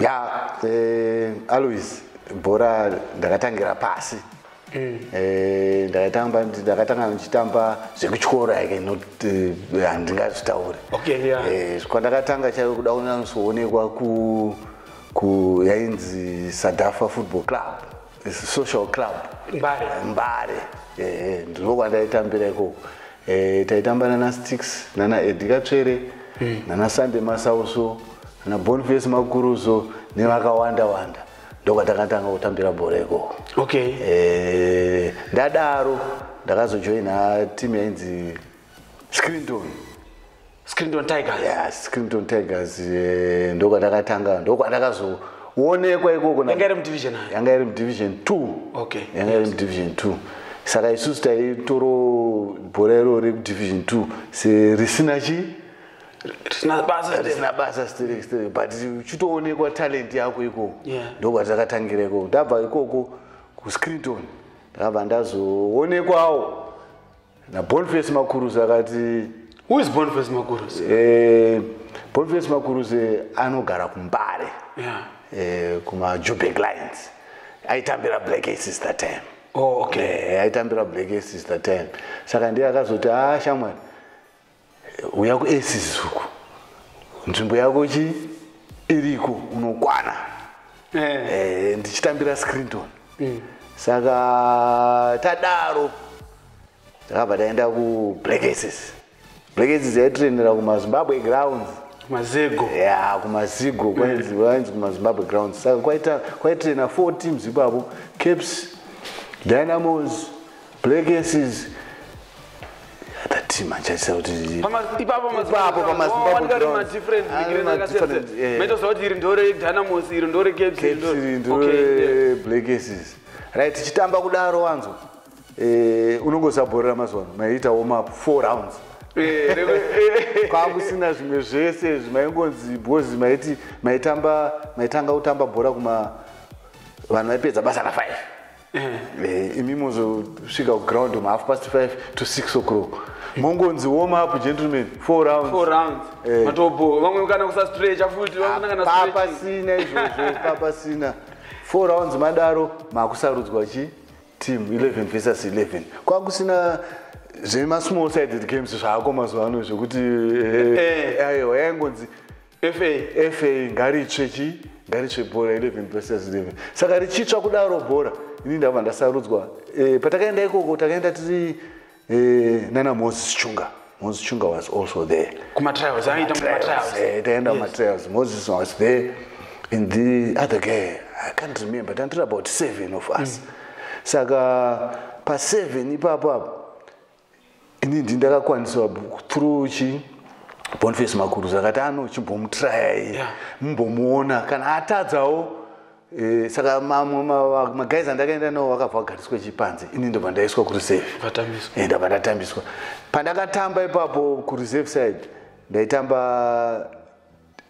ya eh, alois bhora ndakatangira pasi mm. eh, ndakatamba ndakatanga ndichitamba zvekutyora yake not eh, handingazvitaure kwandakatanga chaive kuda kunyanatsoonekwa ku yainzi sadafa football club social club mbare mbare ehe ndiko kwandaitambira ikoko eh, taitamba nana sticks nana edikatsvere hmm. nana sunday masauso nana bonface makuruzo nevakawanda wanda ndokwatakatanga kutambira bhora ikoko okay eh, ndadaro ndakazojoina timu yainzi screenton Screenton Tigers. Yeah, Screenton Tigers eh, ndoko ndakatanga ndoko ndakazo onekwa ikoko yanga iri mudivision ayo yanga iri mudivision 2 okay yanga iri mudivision 2 saka isusu taitoro bhora iro rekudivision 2 se risina chi risina basa risina basa sterek sterek but uchitoonekwa talent yako ikoko yeah. ndoko takatangira ikoko ndabva ikoko kuscreenton ndakabva ndazoonekwawo naboniface makuruzi akati who is boniface makuruzi eh, boniface makuruzi anogara kumbare yeah. eh, kumajubek lines aitambira black aces that time oh, okay. eh, aitambira black aces that time saka ndiye akazoti a ah, shamwari uya kuaces uku nzvimbo yako chi iriko unokwana eh. eh, ndichitambira scrinton mm. saka tadaro takabva taenda kublack aces black aces yaitrenera kumazimbabwe grounds mazego ya kumazigo kwainzi mm. kumazimbabwe grounds saka kwaitrena four teams ipapo caps dynamos Legacies team achaisa kuti ipapo ipapo pamazimbabwe different beginning ah, akasiyana meto zvakuti iri ndore dynamos iri ndore caps iri ndore black aces right tichitamba kudaro wanzo eh unongosaborera mazuva ano maita warm up 4 rounds eh, eh. kwakusina zvimwe zvese zvimaingonzi bhozi maiti maitamba maitanga kutamba bhora kuma vanhu vaipedza basa na 5 Eh, imi mozosvika kuground mahalf past 5 to 6 o'clock mongonzi warm up gentlemen four rounds four rounds eh. matobo vamwe kana kusastrecha futi vanangana stretching papasina izvozvo papasina four rounds madaro makusarudzwa chi team 11 versus 11 kwakusina zvemasmall sided games zvaako mazuva ano zvekuti eh, eh. aiwa yaingonzi fa fa ngaritsve chii ngaritsve bhora 11 versus 11 saka richitsva kudaro bhora ini ndava ndasarudzwa e, patakaenda ikoko takaenda tiri e, nana moses chunga moses chunga was also there kumatrials aiita mumatrials eh, taenda kumatrials moses was there and the other guy i can't remember tantiri about seven of us mm. saka paseven ipapo apo ini ndi ndakakwanisa through chi boniface makuruza akati ano chimbomutrayai mumbomuona kana atadzawo eh, saka mamwe magaizi andakaenda nawo vakabva vagariswa chipanze ini ndobva ndaiswa kureserve eh, ndabva ndatambiswa pandakatamba ipapo kureserve side ndaitamba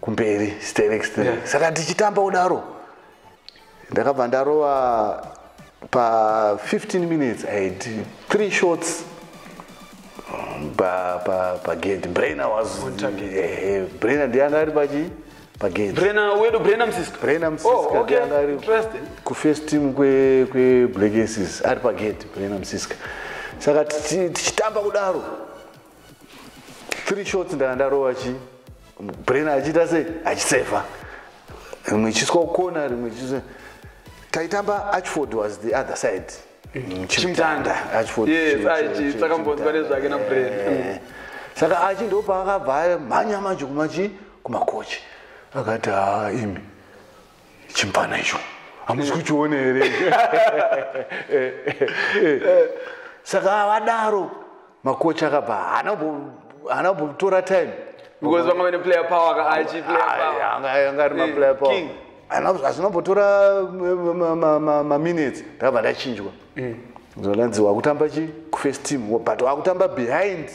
kumberi sterex yeah. saka ndichitamba udaro ndakabva ndarova pa 15 minutes i had three shots pa pa pa gate brainer was eh, brainer ndiye anga ari pachi pa gate brainer wedu brainer msiska brainer msiska oh, okay. anga ari ku first team kwe kwe black aces ari pa gate brainer msiska saka tichitamba kudaro three shots ndanga ndarova chi brain achiita sei achiseva rimwe ichiiswa kukona rimwe ichiiswa taitamba achford was the other side mm, chimtanda achfordsakambodzwa nezvake nabrain eh. saka achi ndopaakabva mhanya manje kumachi kumakochi akati haa imi chimpfana icho hamusi kuchione here saka avadaro makochi akabva haana kumbotora time because vanga vane player power ka achi player power anga anga ari ma eh, player power king ana azvino botora ma minutes ndava ndachinjwa mm. zvalanzi wakutamba chi ku first team but wakutamba behind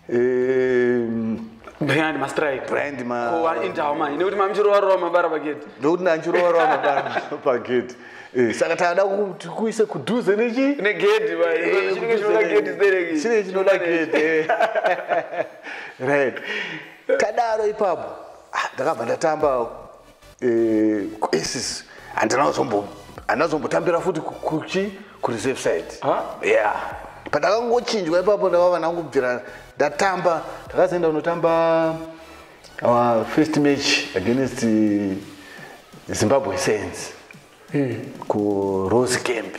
um, behind mastrike behind ma ko vari indawo manje nekuti mamichirovarowa mabara pagedhi nekuti nanchirovarowa mabara pagedhi eh, saka taada kuti kuise kudhuze nechi negedhi eh, chinenge chinoda gedhi stereki chinenge chinoda gedhi eh. right tadaro ipapo ah, ndakabva ndatamba esis eh, handina zombo handina zombotambira futi kuchi kureserve side ya pandakangochinjwa ipapo ndavava ndangobvira ndatamba ndakazoenda kunotamba our first match against zimbabwe saints mm. kurose camp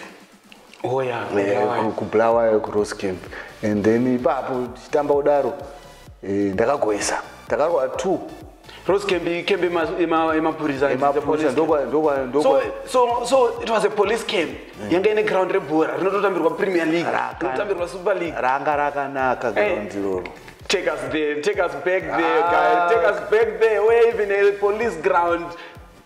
oh, yeah, eh, yeah, yeah. kubulawayo kurose camp and then ipapo tichitamba kudaro eh, ndakagoesa takarwa two Rose can be can be ma ma ma police and the police. Ndokwa ndokwa ndokwa. So so so it was a police camp. Mm. Yanga ine ground rebhora rinototambirwa Premier League. Rinotambirwa Super League. Ranga rakanaka eh. ground iroro. Take us there, take us back there, ah. guys. Take us back there. Where even a police ground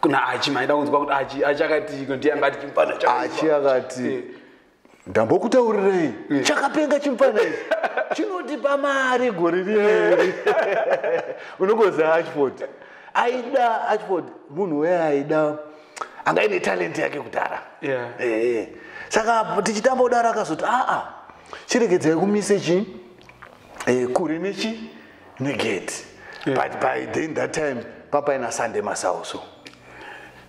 kuna achi maida kunzwa kuti achi achi akati ndiye angati chimupana achi akati eh. ndambokutaurirei eh. chakapenga chimupana ichi chinotipa mari gore rieri unongoziva achford aida achford munhu weye aida anga ine talenti yake kudhara yeah. eh, saka tichitamba kudaro akazoti aa chiregedzai kumise chi eh, kure nechi negate yeah. but by then that time papaina sunday masauso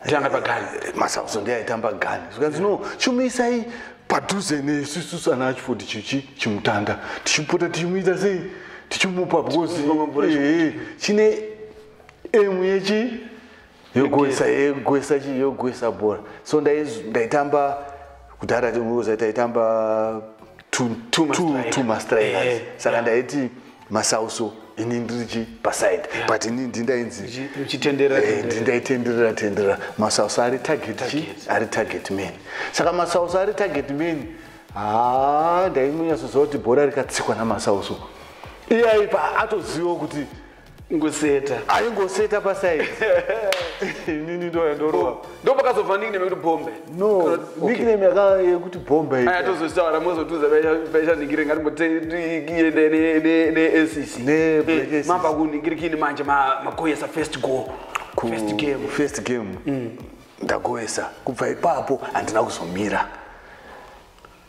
tanga pagani masauso ndiye aitamba gani zvikanzi no chumisai padhuze nesusu sana achiford chichi chimutanda tichipota tichimuita sei tichimupa because eh, eh, chine emu yechi yogwesa yogwesa chi yogwesa bhora so ndaitamba kudhara tiuza taitamba two mastrikers eh, saka ndaiti masauso ini ndiri chi paside but ini ndindainzi eh, ndindaitenderera tenderera masauso ari target chi ari target man saka masauso ari target man haa ndaimunyasoziva kuti bhora rikatsikwa namasauso iyaipa atozivawo kuti ngoseta aingoseta paside nini ndoya ndoroa ndo pakazobva nickname yekuti bombe no nickname yekuti bombe aya atozotaura mozotuza paisha ningire ngati mbotiende neacc eh, mamba kuningirikini manje makoyesa first go first game first game mm. ndagoyesa kubva ipapo handina kuzomira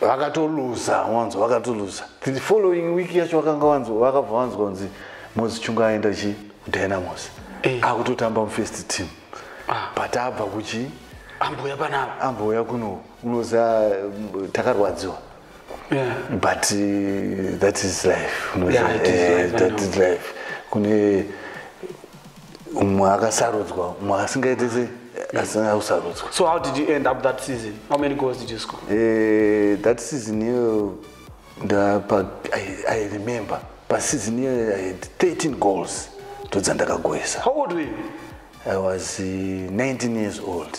vakatoluza wanzo vakatoluza the following week yacho vakanga wanzo vakabva wanzwa kunzi mozi chunga aenda chi kudynamos eh. akutotamba mufirst team ah. but abva kuchi ambouya panapa ambouya kuno unoza mm, takarwadziwa yeah. but uh, that is life, yeah, it is eh, life, uh, that is life. kune umwe akasarudzwa umwe akasingaite se asina kusarudzwa so how did you end up that season how many goals did you score eh, that season iyoyo ndapa i remember paseason iyoyo i had 13 goals ndodzandakagoesa how old were you i was uh, eh, 19 years old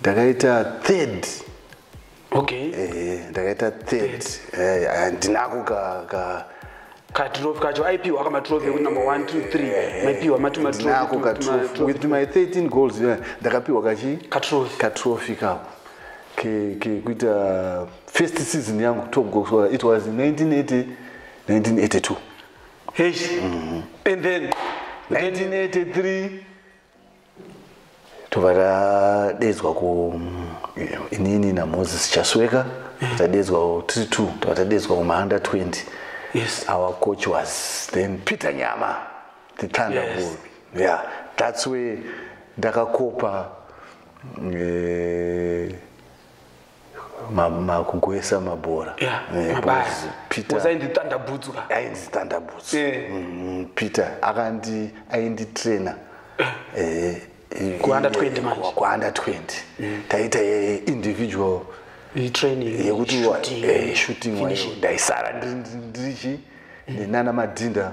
ndakaita third okay eh ndakaita third eh handinako ka ka katrophy kacho aipiwa aka matrophy ekuti number 1 2 3 maipiwa mati matrophy katrophy with my 13 goals yeah, ndakapiwa kachi katrophy katrophy kako ke ke kuita first season yangu top goal scorer it was 1980 1982 hey mm -hmm. and then 1983 tobva tadedzwa ku inini namoses chasweka mm. tadedzwa tiri two tobva tadedzwa kumahanda 20 yes. our coach was then peter nyama the thunder yes. yeah that's way ndakakopa eh, makugoesa mabhora ainditandabudzuka ainditandabudzu peter akandi ainditraina eh, eh, kuanda 20 manje kuanda 20 mm. taita eh, individual training yekuti shooting wayo ndaisara ndirichi mm. ndinana madhinda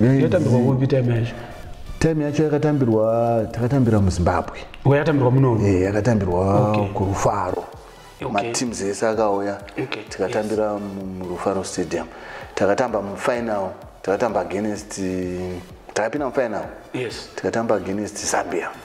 yatambirwa kupi time yacho time yacho yakatambirwa takatambira muzimbabwe yakatambirwa muno eh, yakatambirwa kurufaro mateams ese akauya tikatambira murufaro stadium takatamba mufinal takatamba against takapinda mufinal tikatamba against zambia yes.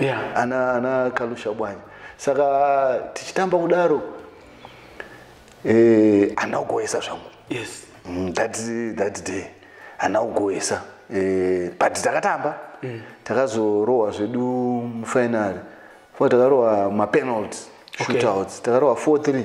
yeah. ana, ana kalusha bwanya saka tichitamba kudaro eh, ana kugoesa zvangu yes. mm, that, that day ana kugoesa eh, but takatamba mm. takazorohwa zvedu mufinary fo takarohwa mapenalty shootouts okay. takarohwa 43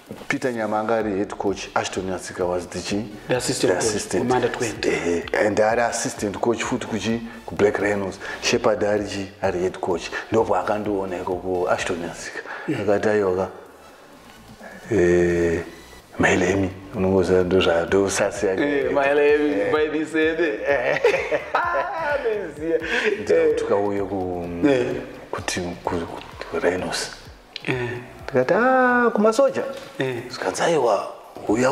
Peter Nyama anga ari head coach, Ashton Nyatsika was the chi? The assistant, the assistant. Coach, under 20. Uh, eh, eh, and ari assistant coach futi kuchi ku Black Rhinos. Shepherd ari chi ari head coach. Ndopo akandiona iko ku Ashton Nyatsika. Mm. Akati ayoka. Eh Mailemi unongoziva ndozva ndosasi yake. Eh Mailemi eh. by this end. Eh. Ah, ndoziva. Ndikauye ku kuti ku Rhinos. eh. ndikati ah, kumasoja eh. zvikanzi aiwa uya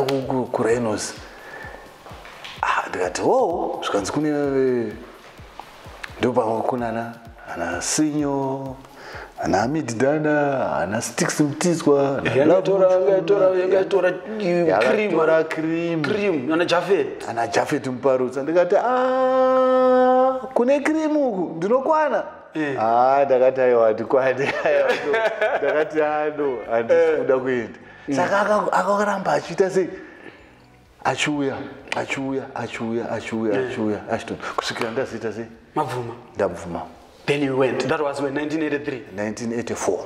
kurainos ah, ndikati o oh, zvikanzi kune ndopamwe kunana ana sinyo ana amididana ana stix mtizwa ana jafet muparutsa ndikati ah, kune krimu uku ndinokwana Eh. Ah, ndakati aiwa ndikwani ndakati ano ah, handisi eh. kuda kuenda mm. saka akaramba achiita sei achiuya achiuya achiuya achiuya eh. achiuya achito kusvikira ndaziita sei mabvuma ndabvuma then you went that was when 1983 1984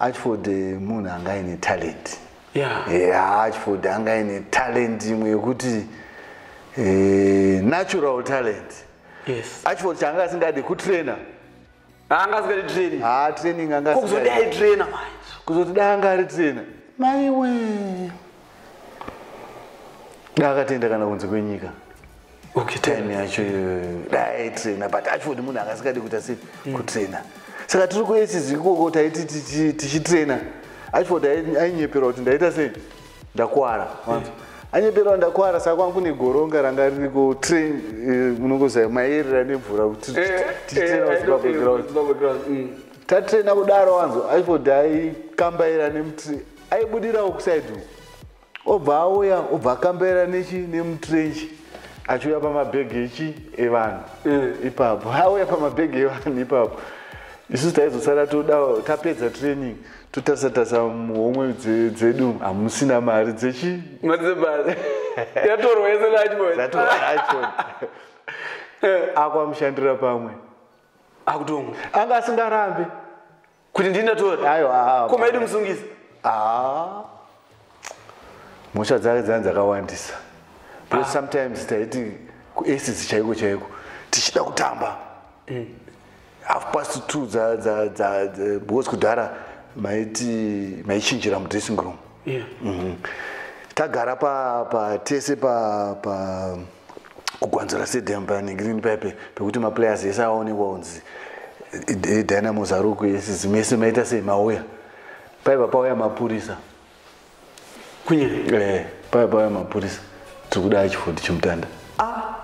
Archford eh, munhu anga aine talent yeah. yeah, Archford anga aine talent imwe yekuti eh, natural talent yes. Archford chaanga asingadi kutrainer anga asingadi training ah, training anga kuzodai trainer manje kuzoti dai anga ari trainer maiwee dai akatenda kana kunze kwenyika okay time yacho dai trainer but ashford munhu anga asikadi kuita sei mm. kutrainer saka tiri kuaces ikoko taiti tichitrainer ashford ainyeperwa kuti ndaita sei ndakwara mm. anyeperwa ndakwara saka kwangu negoronga ranga ririko train eh, unongozaya maerera nemvura kuti eh, eh, titraina kuzimbabwe ground mm. tatraina kudaro wanzo ashford aikambaira nemutri aibudirawo kuside uku obva auya obva akambaira nechi nemutrenchi achiuya pamabhegi echi evanhu eh. ipapo auya pamabhegi evanhu ipapo isusu taizosara toda tapedza training totarisa tarisa muhomwe dzedu hamusina mari dzechi akwamushandira pamwe anga asingarambe kuti ndini ndatora aiwa koma yedu musungisa ah. mhosva dzake dzani dzakawandisa because ah. sometimes taiti kuacids chaiko chaiko tichida kutamba mm. half past two because kudhara maiti maichinjira mudressing room yeah. mm -hmm. tagara pa, pa tese pa, pa kugwanzura stadium panegreen pipe pekuti maplayers ese aonekwa kunzi dynamo zaruku yese zimwe yese maita sei mauya paiva pauya mapurisa kunye eh, paiva pauya mapurisa tiri kuda achifodi chimutanda ah!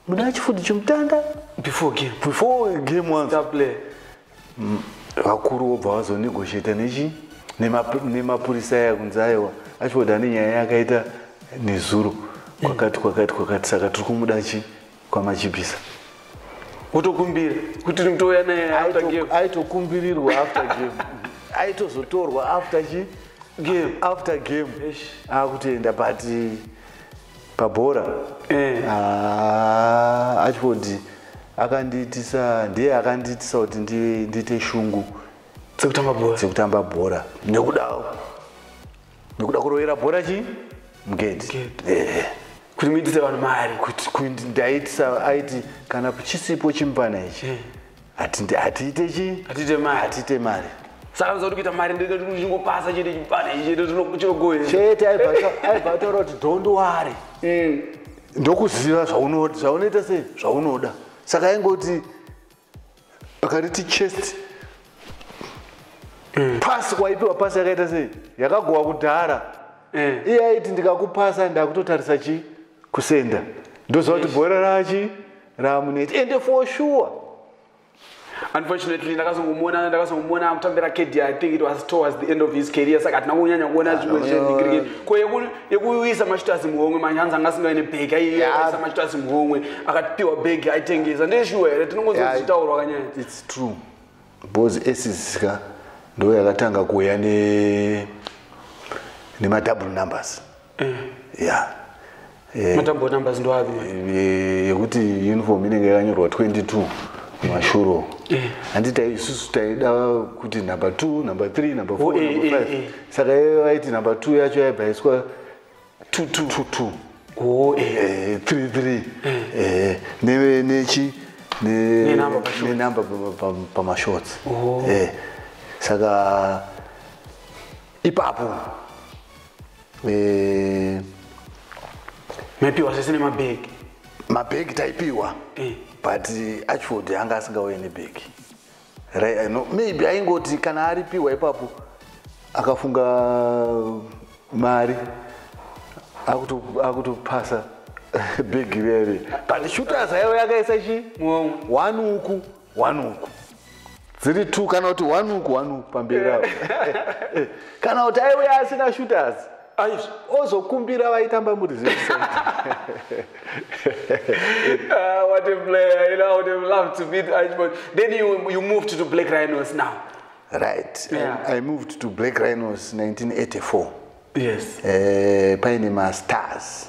muda chifuti chomutanda before game before game once play mm, vakuru vobva vazonegotiate nechi nemapurisa aya kunzi aiwa achivoda nenyaya yakaita nezuro kwakati kwakati kwakati saka tiri kumuda chi kwamachibisa wotokumbira kuti ndouya naye after game aitokumbirirwa after game aitozotorwa after chi game after game akutoenda but pabhora eh. ah, achiford akandiitisa ndiye akandiitisa kuti ndiite shungu dzekutamba bhora dzekutamba bhora nekuda nekuda kurovera bhora chii mugedhi eh. kuti muitise vanhu mari kuti ndaitisa aiti kana chisipo chimupana ichi eh. hatiite chii hatiite mari hatiite mari saka nzva kuti kuita mari ndichingopasa chete chipana ichete chinogoe chete aibva ataura kuti don't worry mm. ndokuziva zvaunoita sei zvaunoda saka aingoti akariti chest mm. pasi waipiwa pasi yakaita sei yakagowa kudhara mm. iye aiti ndikakupasa ndakutotarisa chii kusenda ndoziva kuti bhora rachi ramuneti ende for sure unfortunately ndakazongomona ndakazongomona akutambira kd i think it was towards the end of his career saka hatina kunyanya kuona ah, zvimwe zvecricket ko yekuisa mashutazi muhomwe manje hanzi anga asingaine bag aiisa mashutazi muhomwe akatipiwa bag aitengesa ndeshuwa here tinongozozitaurwa kanyaya its true bcause esiska ndo yakatanga kuuya nemadouble numbers eh. ya eh. matambo numbers ndoapi yekuti uniform inenge yakanyorwa 22 mashuro handiti eh. isusu taida kuti number t number th number f oh, eh, number eh, five saka iye vaiti number t yacho yaibva iswa t t t t oh, three three neve nechi nenumber pamashorts oh. saka ipapo eh maipiwa zvese nemabhegi mabhegi taipiwa eh. but ashford anga asingauye nebhegi right, no, maybe aingoti kana aripiwa ipapo akafunga mari akutopasa bhegi rere but shooters aive akaisa chi one uku one uku dziri two kana kuti one uku one uku pamberi apo kana kuti aiuya asina shooters ozokumbira vaitamba muri ah, what a player you know, i would have loved to meet Ashford. then you, you moved to black rhinos now right yeah. I, i moved to black rhinos 1984 yes uh, paine mastars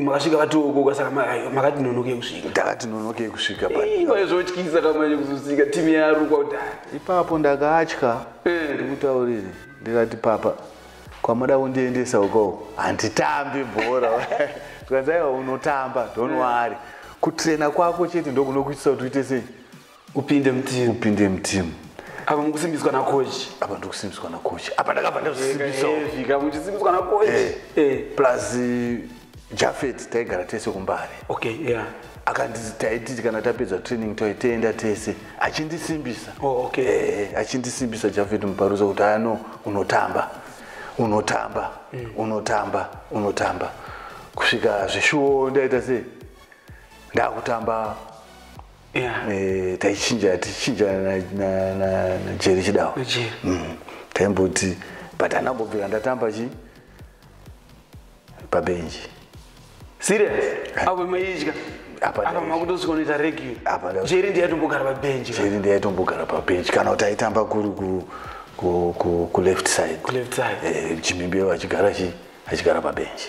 makasvika vatiokoka saka makati nonokei kusvika ndakati nonokei kusvika pazvotyisa kamanye kuzosika timu yarukwa kudai ipapo ndakatya eh. ndikutauriri ndikati papa kwamada kundiendesa ukoo handitambi bhora tikanzi aiwa unotamba don't wari kutrena kwako chete ndokunokuitisa kuti uite sei upinde mutimu upinde mutimu apa mukusimbiswa nakochi apa ndikusimbiswa nakochi apa ndakabva ndazvisimbisaka muchisimbiswa nakochi eh. eh. plus eh, jafet taigara tese kumbare okay yeah akanditaititi kana tapedza training toitenda tese achindisimbisa oh, okay. eh, achindisimbisa jafet muparusa kuti ano unotamba unotamba mm. unotamba unotamba kusvika zvishuwo ndaita sei ndakutamba Eh, taichinja tichinja najeri chidawo mm. taimboti but andambobvira ndatamba chi pabenji serious eh. apo maidya apamakutozokoneta regi jeri ndiyatombogara pabenji jeri ndiyatombogara pabenji kana kuti aitamba kuri kuleft side eh, chimimbi achigara chi achigara pabenji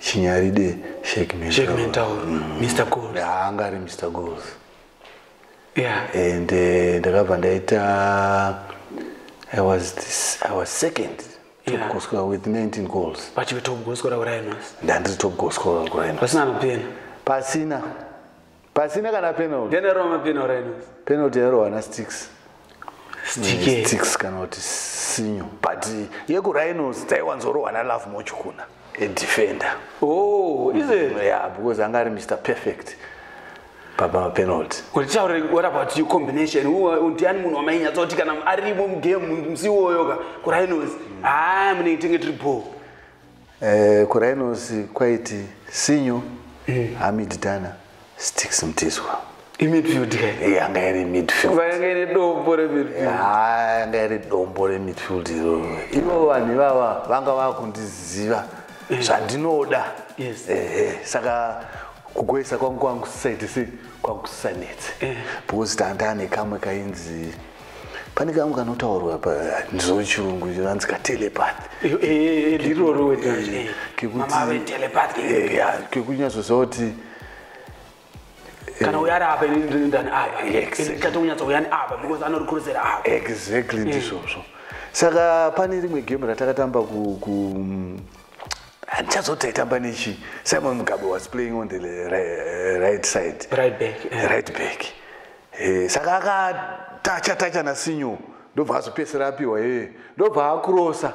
chinyaride shek mentaur mr goals haanga ari mr goals yeah. and eh, ndakabva ndaita i was this, i was second topgoscora with 19 goals pachive topgoscora kurainos ndandiri topgoscora kurainos pasina anopena pasina pasina kana penalty ndene rova mapenalty ino penalty yaro wana sticks sticks kana kuti sinyo but yekurhinos taiwanzorohwa nalove moch kuna edefender oh is it mm, yeah because anga ari mr perfect baba mapenalty kutitaure what about you combination u ndiani munhu wamainyatsakuti kana arimo mugame musiwoyoka kurhinos haa ah, munenge tenge tiri ball Eh, kurhinos kwaiti sinyo eh. hamid dana stix mtizwa yanga iri midfieldanga iri dombo remidfield iro ivo vanhu ivava vanga vakundiziva eh. zvandinoda saka kugoisa kwangu kwangu saiti sei kwangu sanetse because tandane kamwe kainzi pane kangu kanotaurwa pa ndizvo chirungu vanzi ka telepath eh, eh, eh, ndiroro kekunyatsoziva kuti kana uyari apa ini ndiri ndani apakatonyatsa uyani apa because anorikurusera apa exactly ndizvozvo saka pane rimwe game ratakatamba handichazoti taitamba nechi simon mugabe was playing on the right side right back, yeah. right back. Hey, saka akatacha tacha nasinyo ndobva azopedzisira apiwa yeye ndobva akurosa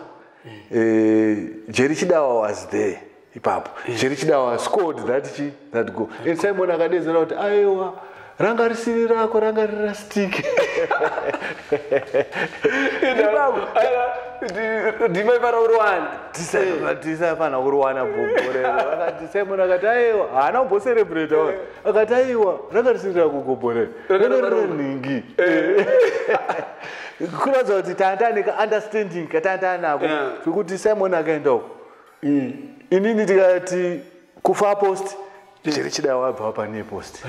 eh, jeri chidawa was there ipapo jeri chidawa scored that chi that go and simon akadedzera kuti aiwa ranga risiri rako ranga riri rastike ndima ifana kuriwana tisafanira kuriwana bhobho rero simon akati aiwa haana kumboserebrata akati aiwa ranga risiri rakugobhorera nhingi eh. kuratidza kuti tanda ane kaunderstanding katanda anako zvekuti simon akaenda uko mm. inini tikati kufa post chiri chida wabva pane post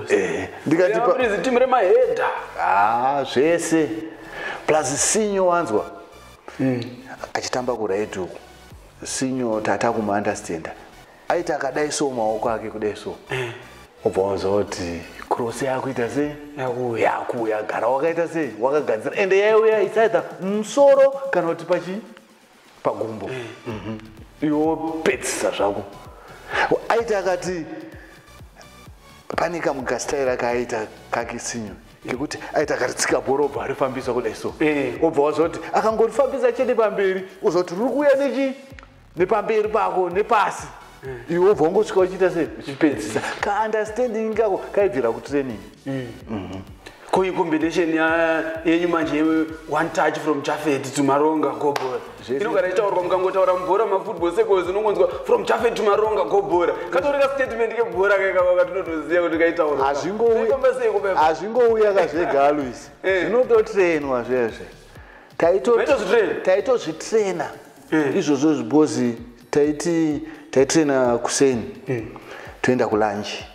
eh. ndikatitimire mahedha ah, zvese plus sinyo wanzwa mm. achitamba kuraituku sinyo tata kumuunderstanda aita akadai so maoko ake kudai so eh. obva wazoti cross yakuita sei yakuuya gara wakaita sei wakagadzira ende yaiuya isaita musoro kana kuti pachi pagumbo eh. mhm. iwopedzisa zvako aiti akati pane kamugastaira kaaita kake sinyo kekuti aita akaritsika bhoro obva arifambisa kudai so eh. obva wazoti akangorifambisa chete pamberi uzoti ruri kuuya nechi nepamberi pako nepasi mm. iwe ubva ungosvika uchiita sei uchipedzisa kaunderstanding kako kaibvira kutraining mm. mm-hmm. ko incombination yenyu manje one touch from jafet to maronga gobora inogara ichitaurwa mukangotaura mubhora mafootball secos unongonzwa from jafet to maronga gobora katori ka statement kebhora kakavaka tinotoziva kuti kaitaurahazvingouya kazvega aluis eh. zvinototrainwa zvezve taitozvitraina mm. izvozvo zvibozi taiti taitraina kuseni mm. toenda kulanji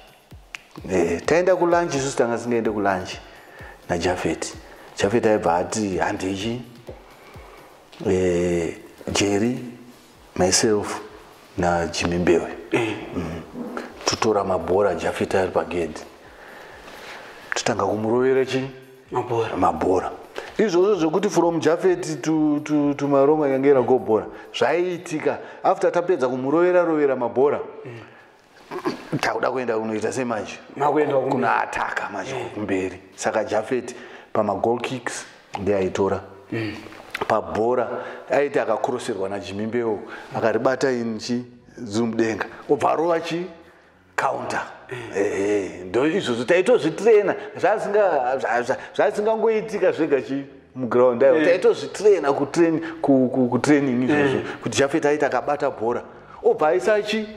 e, taenda kulanji isusu tanga singaende kulanji najafeti jafeti aibva ati handichi e, eh, jeri myself najimi mbewe eh. mm. totora mabhora jafita ari pagedhi totanga kumurovera chii mabhora mabhora izvozvo zvekuti from jafeti tumaronga yange iragobhora zvaiitika after tapedza kumurovera rovera mabhora mm. takuda kuenda kunoita sei manje kunoataka manje eh. kumberi saka jafeti pamagol kicks ndeaitora mm. pabhora aiti akakuroserwa najimimbewo akaribata inchi zumudenga obva arova chi counter ndo izvozvo taitozvitrena zvasingangoitika zvega chi muground ayo eh. taitozvitrena kutraining izvozvo eh. kuti jafet aita akabata bhora obva aisachi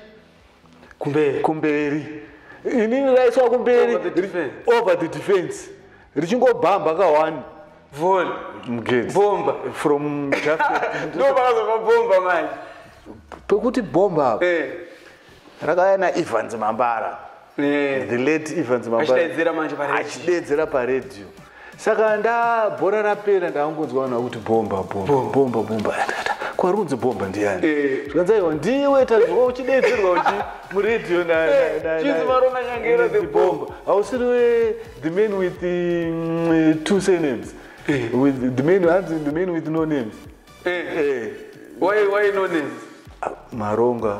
kumberi kumberi ini raiswa kumberi over the defense richingobhamba kawani vol mgate bomba from just no bakazo kwa bomba manje pekuti bomba eh rakaya na Evans Mambara eh. the late evans mabaachidedzera paradio saka ndabhora rapera ndakangonzwa vanhu vakuti bomba bomba bomba bomba kwarunzi bomba ndiyani eh. zvikanzi aiwa ndiwe tazwa uchidedzerwa uchi muradio nachizivaronanyangerabomba eh, hausiri we the man with mm, two surnames eh. with the man hanzi the man with no names why why no names ah, maronga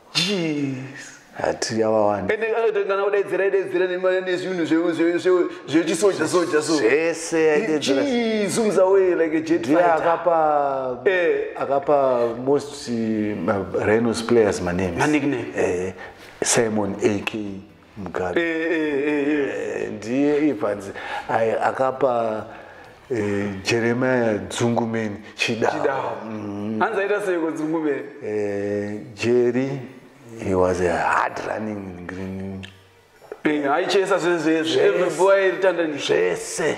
jeez hati avawanda ende akaita kana kudaidzira idaidzira nezvinhu zvechisoja soja so zvese aidaidzira zumza we like a jet fighter akapa eh. akapa most uh, rhinos players maname maname eh simon ak mugari eh, eh, eh, ndiye ipanzi akapa jeremia dzungumeni chidawo mm. hanzi aita seiko dzungumeni jeri he was a hard running green aichesa zvezvezve every boy ritandani zvese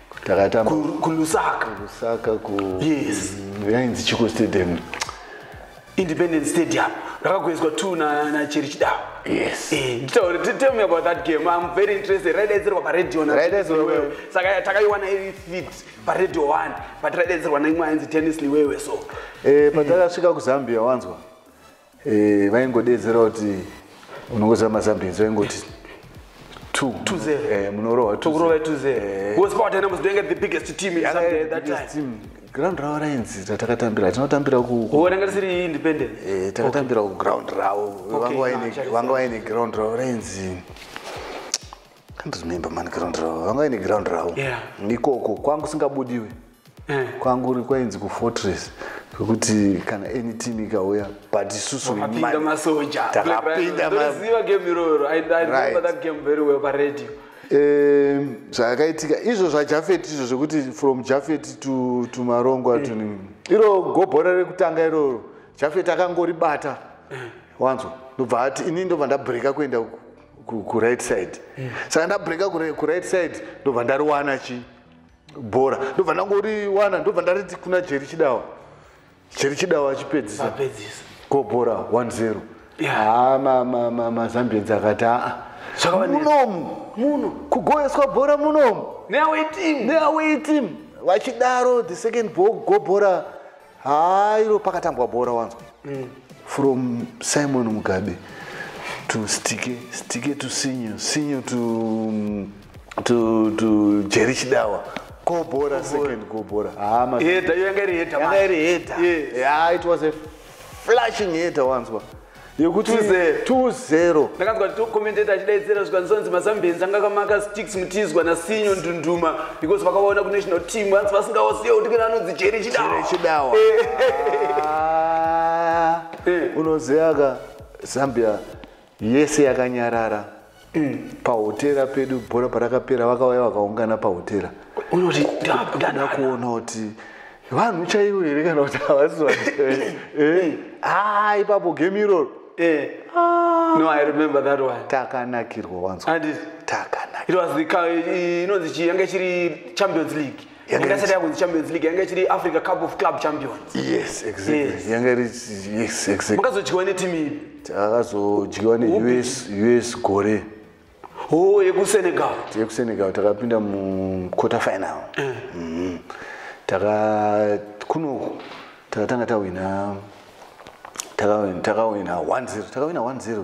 takatamba kulusaka kulusaka ku yes yainzi chiko stadium independent stadium rakagoiswa t nacheri chidawa yes eh, so tell me about that game i'm very interested raidaidzirwa paradio saka takaiwana iri fit paradio one but raidaidzirwa naimwe ainzi tennis liwewe so eh, patakasvika kuzambia wanzwa eh, vaingodedzera kuti unongoziva mazambinzi vaingoti eh, munorohwa ground ravo rainzi ratakatambira tinotambira kutakatambira kuground ravo vanga vaine ground ravo rainzi ndozvinoimba mani ground ravo vanga vaine ground ravo yeah. ikoko kwangu singabudiwe eh. kwangu ri kwainzi kufortress kwekuti kana any team ikauya but isusu takapinda masoja takapinda maziva game iroro i remember that game very well pa radio um zvakaitika izvo zvajafet izvo zvekuti from jafet to to marongwa mm. to eh. iro gobhora rekutanga iroro jafet akangoribata eh. wanzwa ndobva ati ini ndobva ndabreaka kuenda uku kuright side yes. saka ndabreka kuright side ndobva ndariwana chi bhora ndobva ndangoriwana ndobva ndariti kuna jeri chidawa jeri chidawa achipedzisa ko bhora 10 mazambienzi akati aa munomu muno kugoeswa bhora munomu neaway team vachidaro the second bhora haa iro pakatambwa bhora wanzwa mm. from simon mugabe to stike stike to sinyo sinyo to, mm, to, to jeri chidawa gobhora second gobhora hama yanga iri heta yanga iri heta yeah. yeah, it was a flashing heta wanzwa yekuti 2-0 ndakanzwa kuti tocommentator achidaidzira zvikanzonzi mazambians anga akamaka sticks mutizwa nasinyo ndunduma because vakavaona kunational team hanzi vasingaosiye kuti kana anonzi jeri chidawachidawa eh. ah. eh. unoziva ka zambia yese yakanyarara mm. pahotera pedu bhora parakapera vakauya vakaungana pahotera unoti ndada kuona kuti vanhu chaivo here kana kuti havasi vanhu eh, eh. ah, ipapo game iroro eh. ah. no i remember that one takanakirwa wanzwa takanakirwa inonzi chiyanga chiri champions league yangasati yakunzi champions league yanga ichiri africa cup of club champions yes exactly yanga iri yes exactly makazodyiwa netimu ipi takazodyiwa neus us gore oh yekusenegal yekusenegal takapinda muquarter final eh. mm-hmm. taka kuno takatanga tawina takawina 1 0 takawina 1 0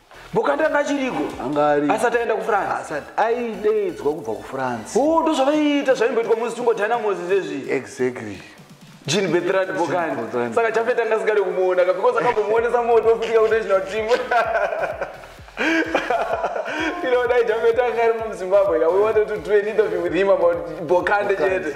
bokanda anga achiriko anga ari asati aenda kufrance asati aideidzwa kubva kufrance o oh, ndozvavaiita zvaimboitwa musi tungodhana mosi zvezvi exactly jean betrad bokandi saka chafeta anga asikadi kumuona ka because akambomuonesa moto ofutika kuti national team inoda ijafeta anga ari mumuzimbabwe ka we wanted to do an interview with him about bokande chete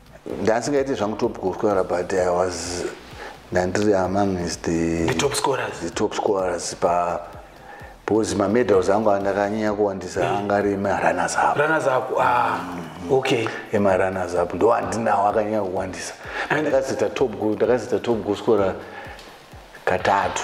ndasingaite zvangu top goal scorer but i was ndandiri among is the, the top scorers the top scorers pa because mamedals angu andakanyanya kuwandisa mm. anga ari emarunners up runners up ah mm. okay emarunners up ndo andinawo akanyanya kuwandisa ndakazita top goal ndakazita top goal scorer katatu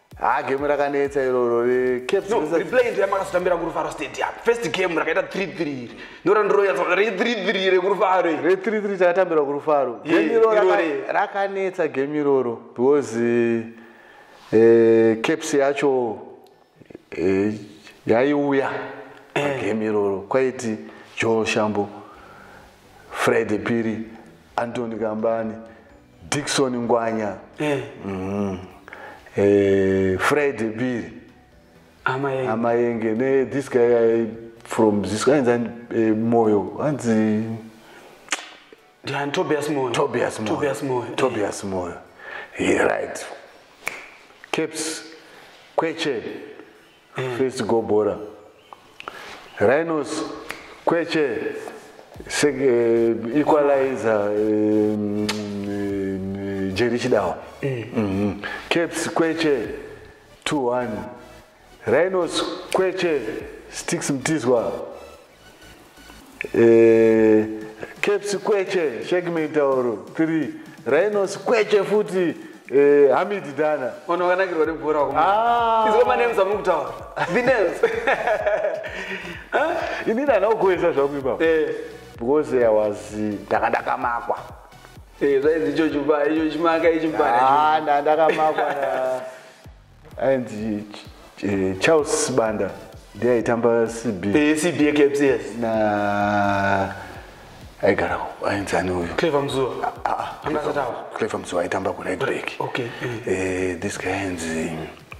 haa game rakanetsa iroro recapriplay ndo yamakazotambira kurufaro stadium first game rakaita 33 iri ndorandiroyatsa re 33 rekurufaro re 33 takatambira kurufaro game iroro rakanetsa game iroro because eh, eh, caps yacho eh, yaiuya game iroro kwaiti joel shambo friday piri antony kambani Dixon Ngwanya. Eh. Mm. Eh, Fred Biri. Amayenge. Amayenge. Ne, this guy I, from this guy is an eh, Moyo. Anzi Dian Tobias Moyo. Tobias Moyo. Tobias Moyo. Eh. Tobias Moyo. He right. Caps. Kweche. mm. first go bora rhinos kweche se, uh, equalizer um, um, jeri chidawa mm. mm -hmm. caps kweche 21 rhinos kweche sticks mtizwa eh, caps kweche shake mitauro three rhinos kweche futi eh, hamidi dana vanhu vakanakirwa nebhora ah. izo manems amuri kutaura the names ini dana ugoesa zvangu ipapo eh. because i was ndanga ndakamakwa eh, zvainzi ichocho pa ichochimaka ichimbanaa ah, ndandakamakwa ainzi eh, charles sibanda ndiye aitamba cb Eh, CB Caps, yes. na aigara ainzi ani uyu Clever Mzuwa. Anga asati awa. clever mzuva aitamba kuright back Okay, Eh, this guy ainzi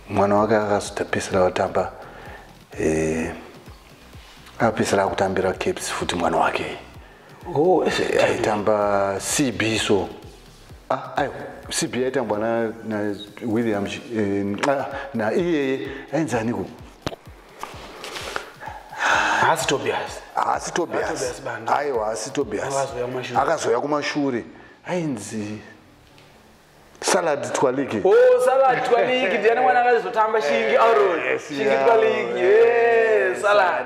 mwana wake akazotapesera watamba eh, akapesera akutambira caps futi mwana wake Oh, eh, aitamba cb so Ah, ayo cb yaitambwa nawilliam eh, ah, na iyeye ainzi aniko haasi tobias haasi tobias aiwa haasi tobias akazouya kumashure ainzi salad twaliki oh salad twaliki ndiani mwana akazotamba shingi aron shingi twaliki salad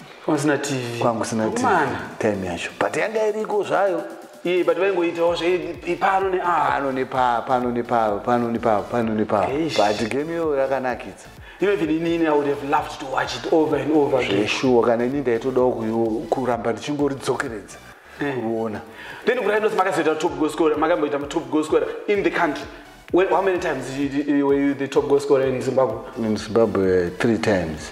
kwamusina tv kwangu sina tv Akomana. time yacho but yanga iriko zvayo iye but vaingoitawo zveipano ne ah pano nepaa pano nepaa pano nepaa pano nepaa Eish. but game iyoyo yakanakidza even inini i would have loved to watch it over and over again zveshuwa kana ini ndaitodawo kuyo- kuramba ndichingoridzokeredza kuona then kuraidos makazoita top goal scorer makamboita top goal scorer in the country When, how many times you- you- were you the top goal scorer in zimbabwe in zimbabwe three times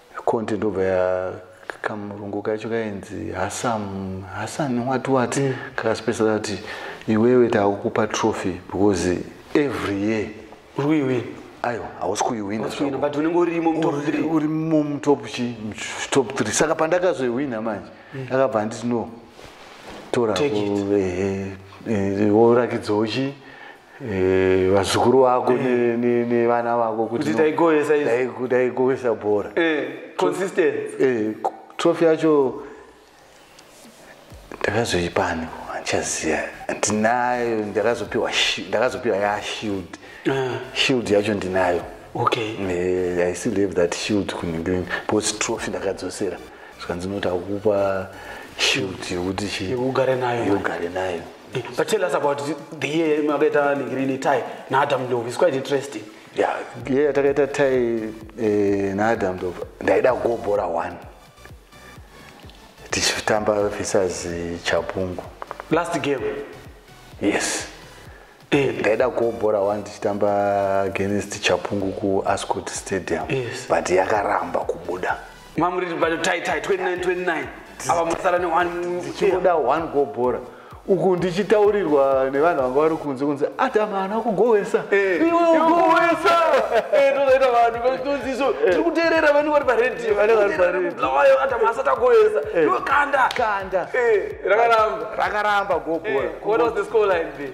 content ndobva ya kamurungu kacho kainzi hasam hasan what what mm. kakaspesa kati iwewe taakukupa trophy because every year uri kuiwina aiwa hausi kuiwina but unenge urimo mutop 3 urimo mutop chi top 3 saka pandakazoiwina manje mm. akabva mm. anditi no tora worakidzawo chii Eh, vazukuru vako eh. nevana vako kuti taigoesa bhora eh, trofi yacho ndakazoipani andichaziva ndinayo ndakazopiwa ndakazopiwa ya shield ah. shield yacho ndinayo okay i still have that shield kuningireni because trofi ndakadzosera zvikanzi noti akupa shield yekuti yekugare nayo Eh, but tell us about the year makaita nigrini tai naadam love is quite interesting ya yeah, year takaita tai eh, naadam love ndaida kugobhora one tichitamba visas eh, chapungu last game yes eh. ndaida kugobhora one tichitamba against chapungu kuascot stadium yes. but yakaramba kubuda mamuri bado tai tai 29 29 ava masara ne one ndichikuda one go bora uku ndichitaurirwa nevanhu vanga vari kunze kunzi adam haana kugowesa eh, iweugowesa eh, tozoita vanhu vaitonziso eh. tiri kuteerera vani vari paredio vani vari paredioayo adam asati agowesa iwe kanda kanda rakaramba rakaramba gobora what was the score line be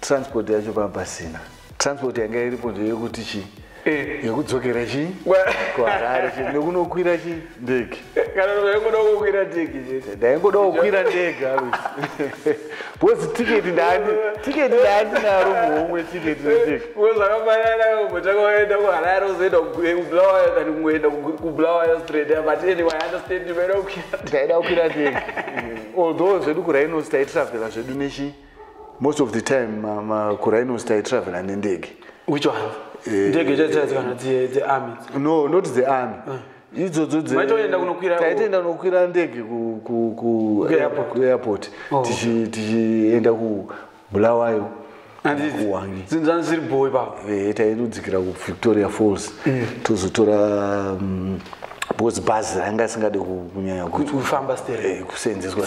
transport yacho pava pasina transport yanga iripo ndeyekuti chii eh. yekudzokera chii kuharare chii nekunokwira chii ndege ndaingoda kukwira ndege alusi bcause tiketi ndani tiketi ndani naro muhomwe tiketi ndege ndaida kukwira ndege although zvedu kurainosi taitravela zvedu nechii most of the time makurhinos taitravela nendege which one eh, ndege dzaidzikana the army no not the army eh. idzodzo dzaitoenda kunokwira ndege kuairport oh. tichienda kubulawayo eh, tairudzikira kuvictoria falls mm. tozotora mm, because bhazi ranga asingade kunyanya kufamba kuseenzeswa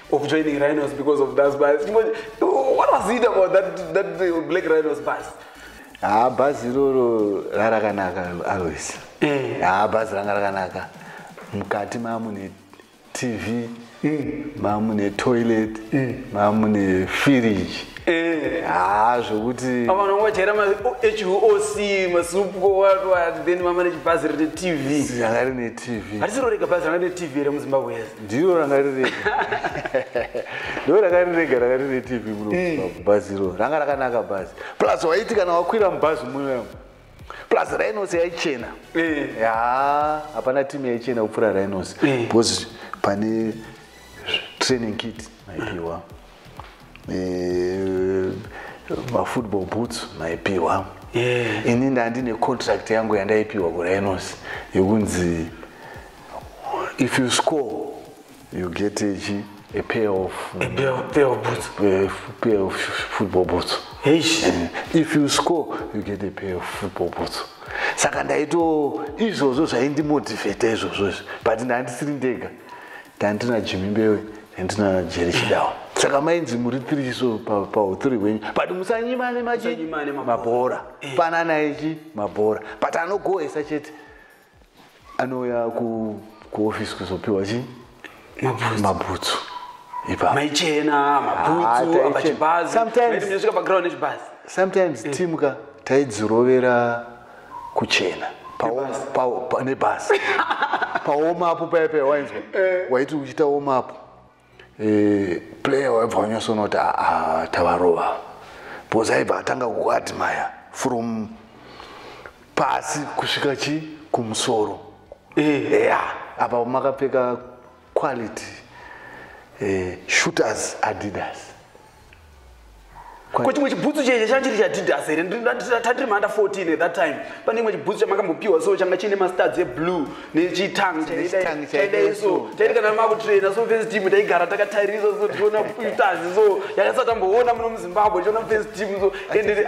of joining rhinos because of those bus what was it about that, that black rhinos bus haa ah, bhazi iroro rarakanaka always haa eh. ah, bhazi ranga rakanaka mukati maamune tv mm. maamune toilet mm. maamune firiji eh. haa ah, zvekuti avanongochera mahoc masupkoathen mama nechibhazi rine tv ranga rine tv hatisirorega bhazi ranga rine tv here muzimbabwe ndiro ranga riri ndo ranga rirega ranga rine tv munobhazi eh. iro ranga rakanaka bhazi plus waiti kana wakwira mubhazi munoyamo plus rhinos yaichena eh. ya hapana timu yaichena kupfuura rhinos eh. because pane training kit maipiwa mafootball boots maipiwa ini ndandine contract yangu yandaipiwa kurhinos yekunzi yeah. if you score you get a chi a pair of a pair, of, pair of boots a pair of football boots Eish. Eh, if you score you get a pair of football boots saka ndaito izvozvo zvaindimotivheta izvozvo izvi but ndandisiri ndega ndandina jimi mbewe ndandina jeri chidawa saka mainzi muri three so pauthree pa wenyu but musanyimane machi mabhora eh. panana ichi mabhora but anogoesa chete anouya kuofisi kuzopiwa chii mabhutsu maichena mabhutsosometimes eh. team ka taidzirovera kuchena nebhasi paoma apo paya paya wainzwa eh. waiti uchita oma apo eh, player waibva wanyasoona kuti ah, ah, tavarova because aibva atanga kukuadmire from pasi kusvika chi kumusoro eh. eya apa makapfeka quality eh, shooters adidas ko chimwe chibhutsu cheche changa chiri chaadidas here tandiri maanda 14 at that time pane imwe chibhutsu chamakambopiwa so changa chiine mastuds eblue nechitang chaidai so taiti kana makutraina so fes team taigara takatarisa so tiona stars so yakasati amboona muno muzimbabwe tiona fes team so ende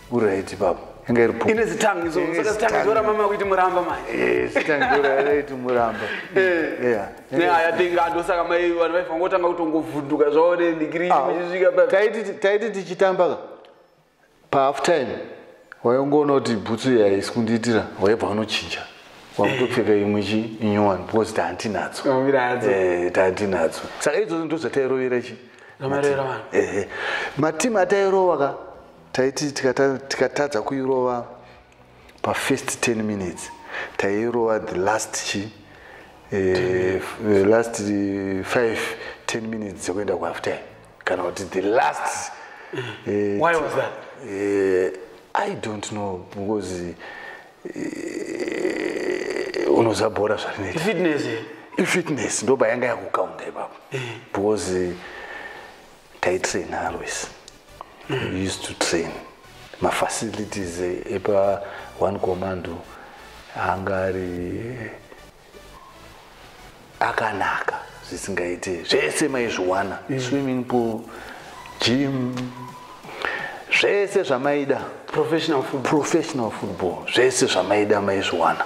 Uraiti baba. Inga iri pfupi. Ine zitangi izo. Saka zitangi zora mama kuiti muramba mai. Eh, zitangi zora raiti muramba. Eh. Yeah. Ne aya denga ndo saka mai vanhu vaifa ngotanga kutongovhunduka zvawo ne degree ah, muchisvika pa. Taiti taiti tichitamba ka. Pa half time. Wayongoona kuti bhutsu iya isikundiitira waibva unochinja. Wakutopfeka imwe chi inyowani because tantinadzo. Eh, tantinadzo. Saka idzo ndo zvatairovera chi. Nomarera vanhu. Eh. eh. Matimu atairova ka. taiti tikatadza kuirova pafirst 10 minutes tairova the last chi eh, the last 5 eh, 10 minutes dzekuenda kuafter kana kuti the last eh, why was that eh, i don't know because eh, unoziva bhora zvarinoita fitness eh? ifitness ndoba yanga yakukaunda ipapo eh. because eh, taitrain always we used to train mafacilities epa one commando anga ari akanaka zvisingaite zvese maizviwana mm. swimming pool gym zvese zvamaida professional football zvese zvamaida maizviwana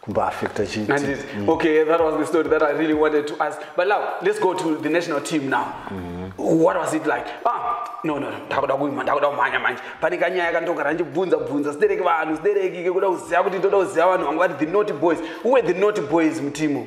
kumbaafecta chii handiti mm. okay that was the story that i really wanted to ask but now let's go to the national team now mm. what was it like ah no no ndakuda kuima ndakuda kumhanya manje pane kanyaya kandogara ndichibvunza bvunza sidereki vanhu sidereki kekuda kuziva kuti ndoda kuziva vanhu vangu vari the not boys who were the not boys mutimu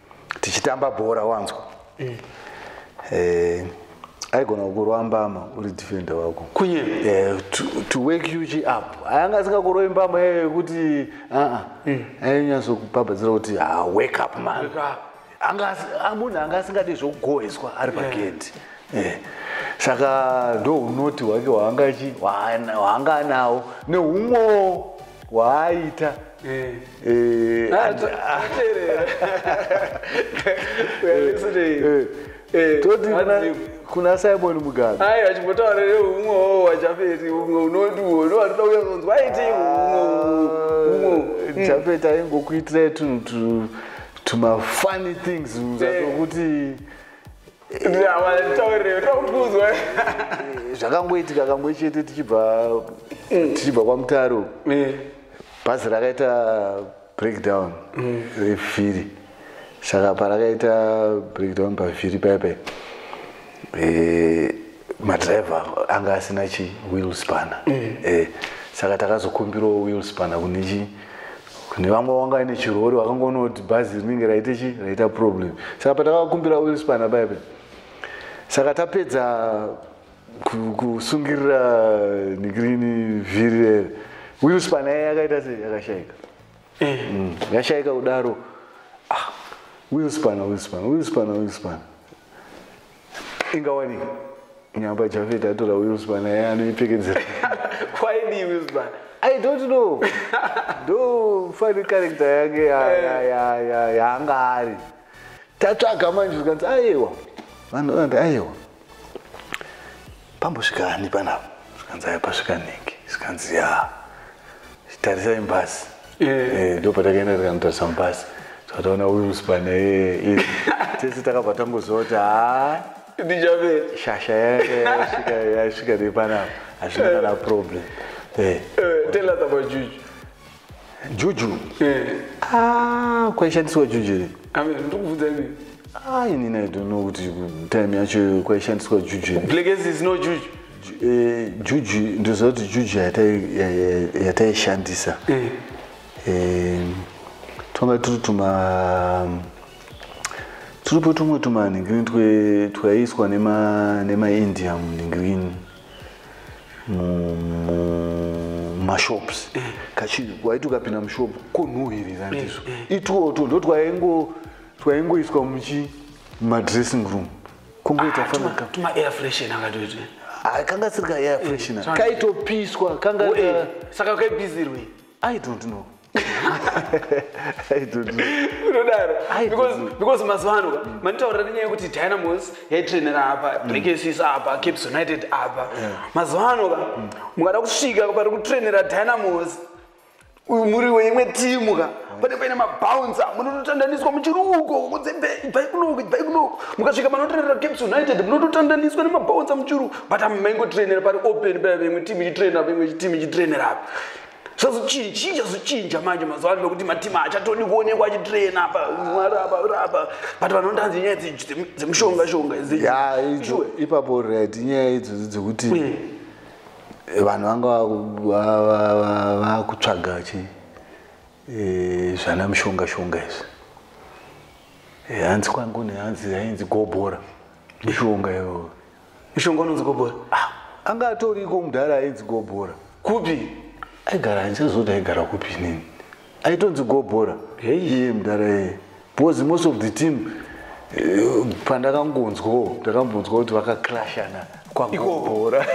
tichitamba bhora wanzwa mm. eh, aigona kukurova mbama uri defender wako kunye eh, to, to wake you up ayanga asingakurove mbama iyoyo yekuti aa mm. ainyatsokupabhadzira kuti ah, wake up man ah, munhu anga asingadi zvokugoheswa ari pagendi yeah. Eh, saka ndounoti hwake hwaanga anawo neumwewo waaita eh. eh, ah, eh, toti kuna simon mugabe ai achimbotaura neumwe wo wajafeti umwe unoti uwo ndo watoda kuya kunzwa aiti umwe umwe ah, jafeti aingokuitirai tunhu tumafunny things zvatokuti zvakangoitika kamwe chete tichibva mm. tichibva kwamutaro mm. bhazi rakaita breakdown mm. revhiri saka parakaita breakdown pavhiri paipai eh, madriver anga asina chi wheel spanner eh, saka takazokumbirawo wheel spanner kune chii kune vamwe wanga ine chirori wakangoona kuti bhazi rinenge raita chi raita problem saka patakakumbira wilspana paipe saka tapedza kusungirira nikirini vhiri rere wilspana yai yakaita sei yakashaika eh. mm, yashaika kudaro ah, wilspana wilspana wilspana wilspana ingawanike nyamba jafet atora wilsban aye anoipfekedzera kwaidii wilsban i don't know ndo fani character yake yaanga eh. ari tatsvaga manje zvikanzi ayewa vanhu vanati ayewa pambosvika ani panapa zvikanzi aya pasvika nhingi zvikanzi ya tarisai mbasi eh. eh, ndo patakaenda tikanotarisa mbasi tataona wilspan eh, tese takabva tangoziva kuti ha ndichave shasha yasvika nepanapa hazvina kana problem tell us about juju juju eh. ah, kwaishandiswa juju here ndikubvunza imi ah, inini i don't know kuti time yacho kwaishandiswa juju here blekesi is no juju eh, juju ndoziva kuti juju yataishandisa twanga tiri tuma tiripo tumwe tumanhingirini twaiiswa nemaindia munhingirini mashops eh. kachinhu waiti ukapinda mushop konhuhirira eh, ndizvo eh. itwoto ndo twaingo twaingoiswa muchi madressing room kungoita ah, fanaka tuma air freshen akatoita ah, kanga siri ka air freshen kaitopiswa kanga saka kaibizirwe i don't know unodaro because mazuva ano mm. manditaurira nenyaya yekuti dynamos yaitrainera apa mm. blakesis apa caps united apa mazuva ano ka mm. mukada kusvika pari kutrainera dynamos muri weimwe timu ka pane paine mabouncer munototandaniswa muchiri uko kunzebhai kunoko bhai kunoko mukasvika manotrainera caps united munototandaniswa nemabouncer muchiri uko but maingotrainera pari open paa veimwe timu ichitrainera veimwe timu ichitrainera apa zvazochinja zvazochinja manje mazuva ano nokuti matima hachatodi kuonekwa achitrena apa mwari apa apa but vanhu vandanzi nyaya dzemushonga shonga ipapo right nyaya idzodzo dzekuti mm. vanhu vanga vakutsvaga chi eh, zvana mushonga shonga izvi eh, hanzi kwangu nehanzi yainzi gobora mishonga iyoyo mushonga unonzi gobora ah, anga atoriko mudhara ainzi gobora kupi aigara andichazoti aigara kupi nini aitonzi gobora iye mudhara iye because most of the team eh, pandakangonzwawo ndakambonzwa kuti vakaclashana kwagobora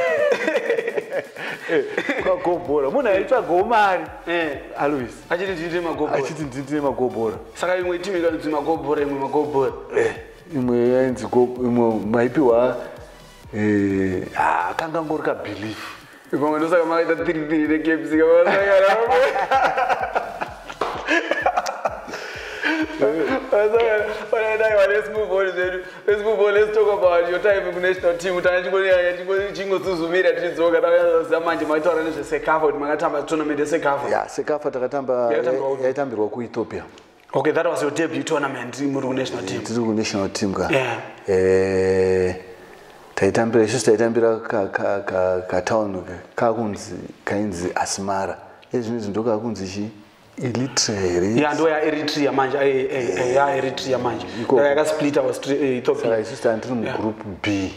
eh, kwagobora munhu aitsvagawo mari eh. alois achiti nditine magobora saka imwe timu ikanzi magobora imwe magobora imwe yainzi ko imwe maipiwa eh, ah, kanga ngori kabelief pamwe ndosaka makaita tiri tiri nekepsi kamasangana chingosuzumira tichidzoka taaziva manje maitaura nezvesekafa kuti makatamba tournament yesekafa sekafa takatamba yaitambirwa kuethiopia okay that was your debut tournament muri kunational team tiri kunational team ka yeah. eh, taitambira isusu taitambira katown kakunzi kainzi asmara ezvino izvi ndokakunzi chii ya ndo yaeritrea manje yaeritrea manje yakasplita ethiopiaisusu tani tiri mugroup b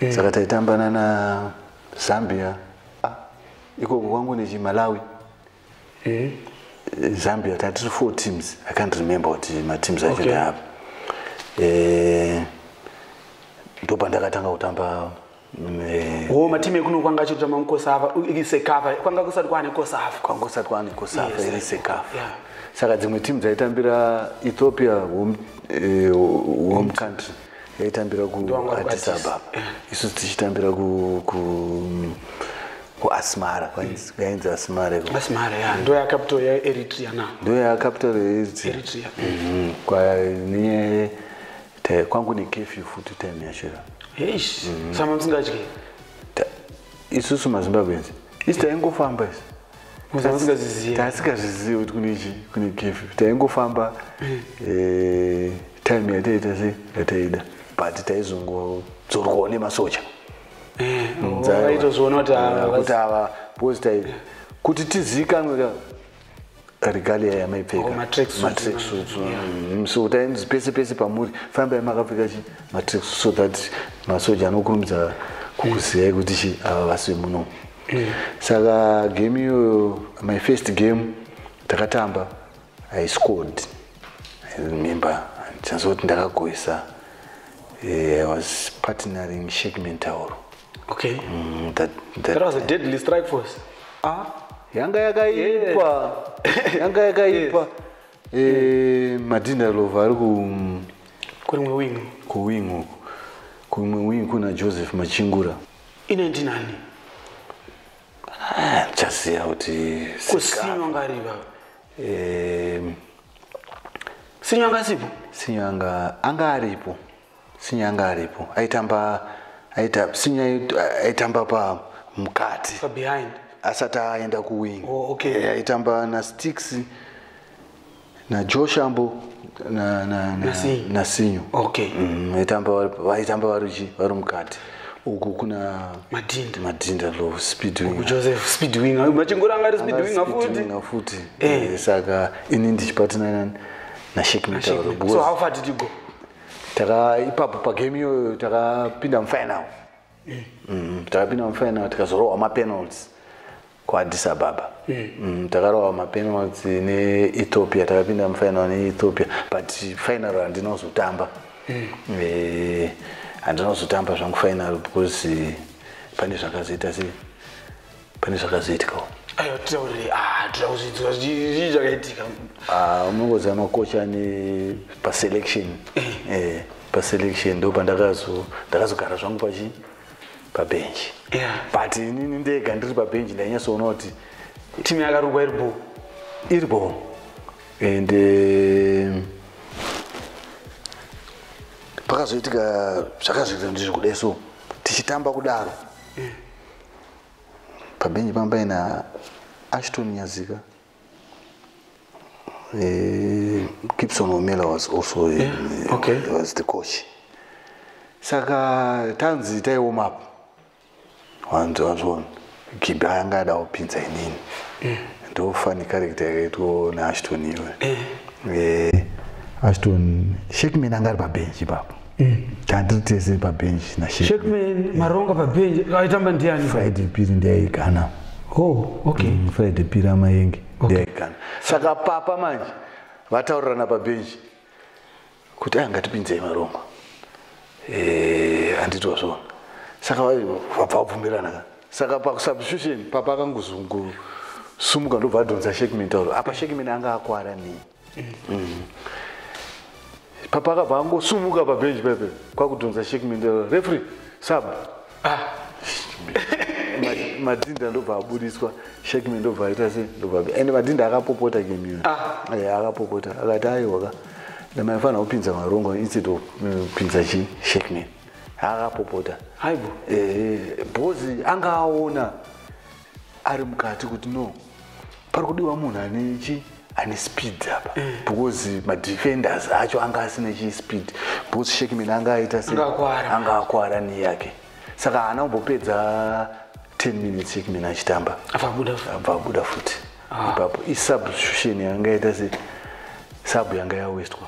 mm. saka taitambana nazambia ah, ikoko kwangu nechimalawi mm. zambia tatiri four teams i can't remember kuti mateams acho okay. ndeapi eh, ndopandakatanga kutamba eh, oh, matimu ekuno kwanga achitotamba mukosava iri sekava kwanga kusati kwaane kosava kwanga kusati kwaane kosava iri sekava saka dzimwe timu dzaitambira ethiopia home, eh, home country mm. yaitambira kuaddis ababa eh. isu tichitambira kuasmara kwainzi mm. asmara ndo yacapital yeeritrea na ndo yacapital yeeritrea mm-hmm. kwane kwangu nekefyu futi time yacho eish mm-hmm. sama musingadye isusu mazimbabwenzi isi taingofamba isi taasingazvizivi kuti kune chi kune kefu taingofamba eh, time yataita se yataida but taizongodzorwawo nemasocha eh, mm, kuti ah, ava because tai kuti tizikanwe ka regalia yamaipfekamatracksuits oh, mm, so tainzi pese pese pamuri fambai makapfeka chi matracksuit so that masoja anokurumidza kukuziyai kuti chi ava vasimuno mm. saka game iyoyo my first game takatamba i scored i remember ndichanzoti ndakagoisa eh, i was partnering shek mentauro okay. mm, that, that, that was a deadly strike force ah, yanga yakaipa yes. yanga yakaipa yes. e, madinda lova ari kurimwe wing kuwing uku kumwe wing kuna joseph machingura ine ndinani ah, chaziva kuti kusinywa ngariva sinywa anga sipo sinywa anga anga aripo sinywa anga aripo aitamba aita sinywa aitamba pa mukati pa behind asati aenda kuwing oh, okay. Eh, aitamba na sticks najoe shambo na- na- na- Nasinyo. nasinyo okay Mm, vaitamba vari- vaitamba vari chi- vari mukati uku kuna madhinda madhinda lo speedwing kujoseph speedwinger machingura anga ari speedwinger futi futi Eh. Eh, saka ini ndichipatana nani nashek mitauro so how because far did you go taka ipapo pagame iyoyo takapinda mufinal mm, takapinda mufinal tikazorohwa mapenalty kuaddis ababa mm. mm, takarohwa mapenalty neethiopia takapinda mufinal neethiopia but final handinozotamba mm. eh, handinozotamba zvangu final because eh, pane zvakazoita sei pane zvakazoitikawo aiwa titaurire ah, toda kuzvidzwa zvii zvakaitika ah, unongoziva makocha ane paselection eh. eh, paselection ndo pandakazo ndakazogara zvangu pachi pabhenji but inini ndega ndiri pabhenji ndainyasoona kuti timu yakarukwa iri bho iri bho and eh, pakazoitika zvakazviita ndizvo kudai so tichitamba kudaro eh. pabhenji panga paina ashton nyazika eh, gibson omela was also eh, yeah. okay. was the coach saka tanzi taioma apo wanzi wazviona gibhi anga ada kupinza inini eh. ndofani karekta yakaitwa naashton iwe ashton shekman anga ari pabhenji ipapo mm. tandiri tese pabenji nashekman maronga pabenji aitamba ndiani friday piri ndiyaigana oh, okay. mm, friday piri amayenge okay. ndiyaigana saka papa manje vataurirana pabenji kuti anga tipinzei maronga eh, handitwa zvona saka vabva vabvumirana ka saka pakusubstitution papa akangozunguru sumuka ndobva adhonza shekimeni tauro apa shekimeni anga akwara nei mm. papa akabva angosumuka pabenji pepe kwakudhonza sheki mindero refri saba ah. madhinda ndobva aburitswa sheki mindobva aita se ndobva and madhinda akapopota gemiyo ah. eh, akapopota akati aiwaka ndamaifanira kupinza marongo instead of kupinza mm, chi sheki min akapopota haibo eh, bhozi anga aona ari mukati kuti no pari kudiwa munhu ane chi ane speed apa eh. because madefenders acho anga asina chi speed because shekimeni anga aita se anga akwara ni yake saka haana kumbopedza 10 minutes shekimeni achitamba abva abuda futi ah. ipapo isubstitution yanga yaita se sub yanga yawestwa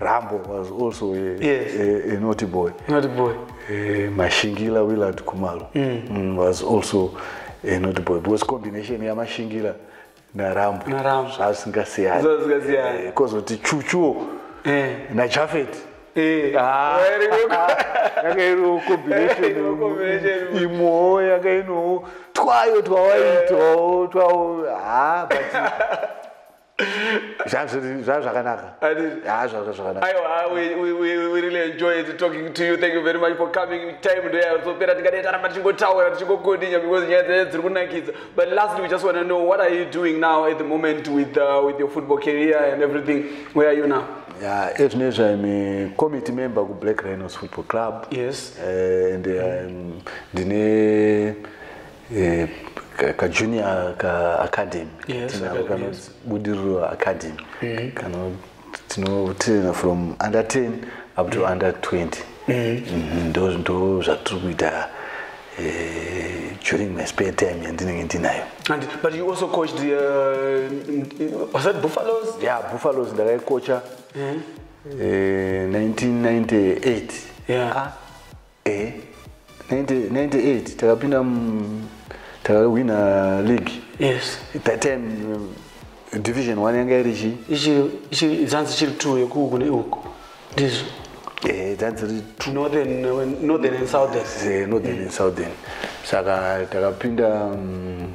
Rambo was also a, yes. a, a naughty boy. Naughty boy. Uh, Mashingila Willard Kumalo mm. Mm, was also a naughty boy. It was combination ya Mashingila na Rambo. Na Rambo. Zvasingasiyani. Zvasingasiyani. Eh, kozoti Chuchu eh. na Jafet. Eh. Ah. Yakairo combination imwewo yakainowo twayo twawaitwawo twawo ha ah, but zvazviri zvava zvakanaka haa zvava zvakanaka aiwa haa we, we, we, we really enjoy it talking to you thank you very much for coming time ndoyazopera tikadai taramba tichingotaura tichingokodinya because nyaya dzaye dziri kunakidza but lastly we just want to know what are you doing now at the moment with, uh, with your football career and everything where are you now Yeah, as you know, I'm a committee member of Black Rhinos Football Club. Yes. Uh, and I'm um, the eh, kajunior kaacademy tinako kanonzi budiriro academy mm. kano tinotraina from under 10 up to mm. under 20 mm. mhm, ndo zvatiri kuita eh, during my spare time yandinenge ndinayo and but you also coached the, uh, was that buffaloes yeah buffaloes ndakaikocha mm. uh, 1998 yeah. ah, eh 90 98 takapinda takawina league yes that time um, division 1 yanga iri chi ichi zanzi chiri 2 yeku kune uko ndizvo eh zanzi ri northern northern and southern eh northern and southern saka takapinda um,